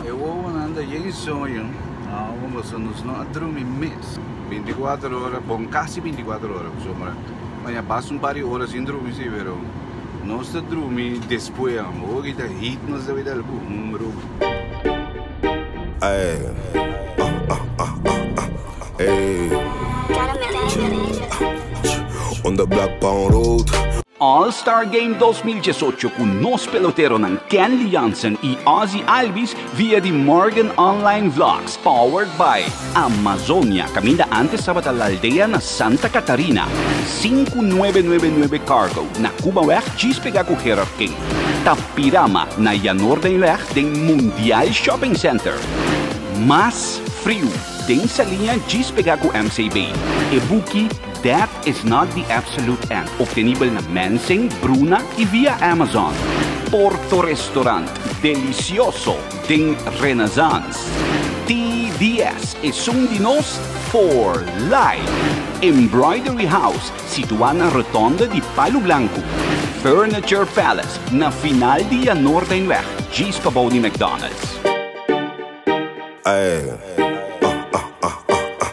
E wowonan ta yen soño awo boso nos no a drumi mes binticuater ora bon casi binticuater ora pasobra mira bai a bas un par di ora sin drumi si pero nos ta drumi despues amo hochi ta heat nos ta bita algu hombro. All Star Game dos mil diesocho ku nos peloteronan Kenley Jansen i Ozzie Albies via di Morgan Online Vlogs powered by Amazonia kaminda antes tabata La Aldea na Santa Catarina, sinku nuebe nuebe nuebe Cargo na Kubaweg djis pega ku Gerard King, Tapirama na Janordenweg den Mundial Shopping Center, mas friu den Saliña djis pega ku MCB, e buki That. Is not di Absolut Ant, obtenibel na Mensing, Bruna i via Amazon. Porto Restaurant, Delicioso den Renaissance. TDS, Esun di nos for life. Embroidery House, situá na Rotonde di Palu Blanku. Furniture Palace, na final di Ya Noordenweg, djis pa bou di McDonald's. Ey.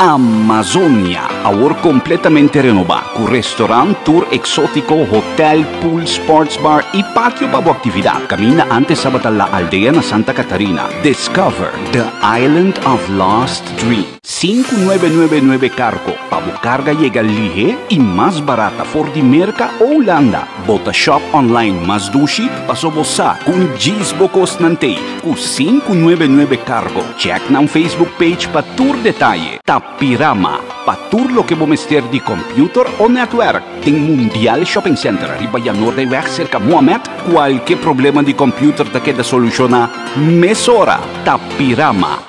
Amazonia, awor completamente renoba, cu restaurant, tour exotico, hotel, pool, sports bar y patio pa bo actividad, caminda antes tabata La Aldea na Santa Catarina. Discover the island of lost dreams. Sinku nuebe nuebe nuebe kargo pa bo karga yega lihe i mas barata for di Merka o Ulanda. Bo ta shòp online mas dushi paso bo sa ku un djis bo kos nan t'ei ku sinku nuebe nuebe kargo. Chèk nan Facebook page pa tur detaye. Tapirama, pa tur loke bo mester di kòmpiuter o nètwèrk, den Mundial Shopping Center riba Yanordeyweg serka Mohammed, kualke problema di kòmpiuter ta keda solushoná mesora. Tapirama.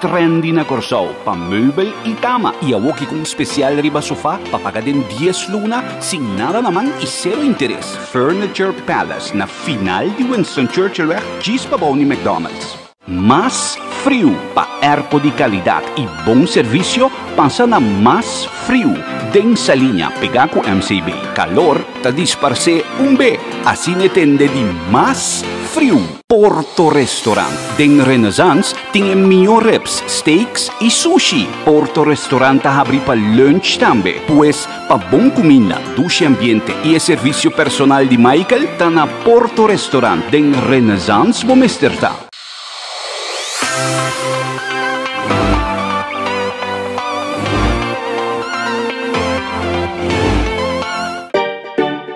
Trendy na Kòrsou, pa meubel i kama, i awor ki kon spesial riba sofá pa paga den dies luna sin nada na man i sero interes. Furniture Palace na final di Winston Churchillweg djis pabou di McDonald's. Mas friu pa erpo di kalidat i bon servisio pasa na mas friu den Saliña pegá ku MCB. Kalor ta disparsé un be asina e tende di mas friu. Porto Restaurant den Renaissance tin e mior rips, steaks y sushi. Porto Restaurant ta habri pa lunch tambe. Pues, pa bon cuminda, dushi ambiente y e servicio personal di Michael, ta na Porto Restaurant den Renaissance bo mester ta.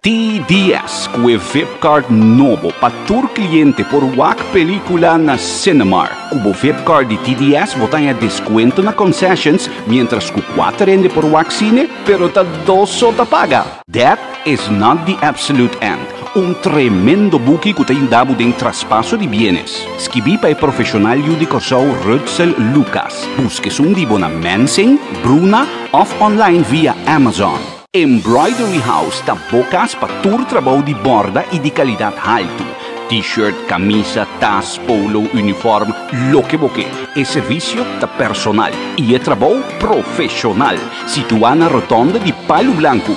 TDS cu e vipcard nobo pa tur cliente por wak pelicula na Cinemark. Cu bo vipcard di TDS bo ta haña descuento na concessions, mientras cu cuater hende por wak cine, pero ta dos so ta paga. That is not the absolute end. Un tremendo buki cu ta yuda bo den traspaso di bienes. Skibi pa e profesional yu di Corsou Rutzel Lucas. Busca esun di bo na Mensing, Bruna of online via Amazon. Embroidery House ta bo cas pa tur trabou di borda y di calidad halto. T-shirt, camisa, tas, polo, uniform, loke bo ke. E servicio ta personal y e trabou profesional. Situá na rotonda di Palu Blanku.